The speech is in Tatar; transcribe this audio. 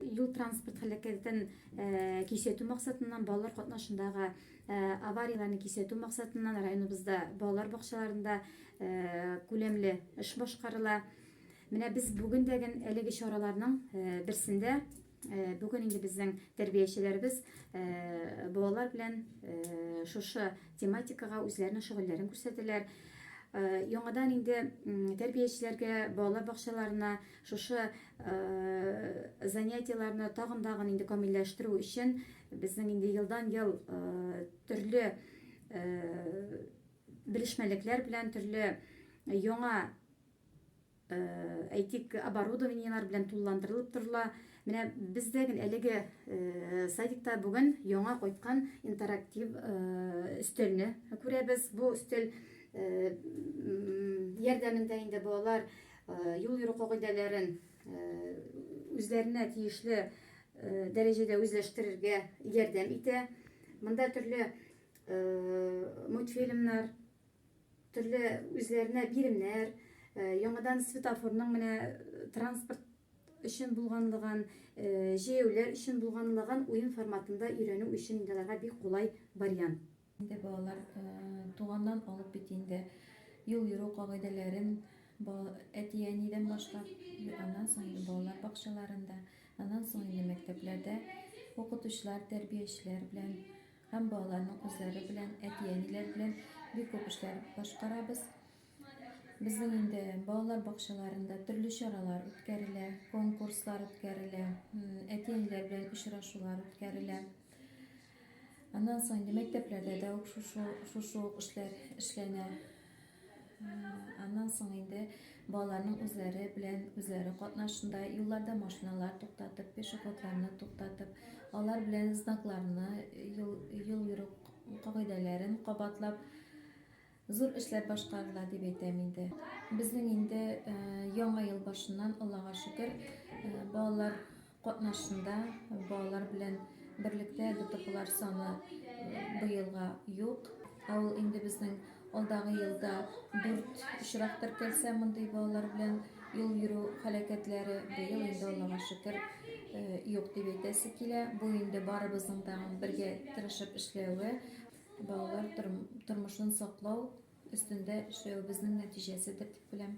Юл-транспорт һәлакәтен кисәтү максатыннан, балалар катнашындагы аварияләрне кисәтү максатыннан районыбызда балалар бакчаларында күләмле эш башкарыла. Менә без бүген дә гел әлеге чараларның берсендә. Бүген инде безнең тәрбиячеләребез балалар белән шушы тематикага үзләренең шөгыльләрен күрсәтәләр. Яңадан инде тәрбиячеләргә, балалар бакчаларына Шушы занятиеләрне тагын да гын инде камилләштерү өчен безнең инде елдан-ел төрле белешмәлекләр белән, төрле яңа әйтик, оборудованиеләр белән тулыландырылып торыла. Менә бездә гел әлеге садикта бүген яңа кайткан интерактив өстәлне күрәбез. Бу өстәл ярдәмендә инде балалар юл йөрү кагыйдәләрен үзләренә тиешле дәрәҗәдә үзләштерергә ярдәм итә. Монда төрле мультфильмнар, төрле үзләренә биремнәр, яңадан светофорның менә транспорт өчен булганлыгын, җәяүләр өчен булганлыгын уен форматында өйрәнү өчен инде аларга бик кулай вариант. Инде балалар туганнан алып бит инде юл йөрү кагыйдәләрен әти-әнидән башлап, аннан соң инде балалар бакчаларында, аннан соң инде мәктәпләрдә укытучылар, тәрбиячеләр белән һәм балаларның үзләре белән, әти-әниләр белән бик күп эшләр башкарабыз. Безнең инде балалар бакчаларында төрле чаралар үткәрелә, конкурслар үткәрелә, әти-әниләр белән очрашулар үткәрелә. Аннан соң инде мәктәпләрдә дә ук шушы шушы ук эшләр эшләнә. Аннан соң инде балаларның үзләре белән үзләре катнашында юлларда машиналар туктатып, пешеходларны туктатып, алар белән знакларны, юл юл йөрү кагыйдәләрен кабатлап Зур эшләр башкарыла дип әйтәм инде. Безнең инде яңа ел башыннан, Аллага шөкер, балалар катнашында, балалар белән берлектә ДТПлар саны быелга юк. Ә ул инде безнең алдагы елда дүрт очрак теркәлсә мондый балалар белән юл йөрү һәлакәтләре, быел инде Аллага шөкер юк дип әйтәсе килә. Бу инде барыбызның да бергә тырышып эшләве. Балалар тормышын саклау өстендә эшләвебезнең нәтиҗәседер дип беләм.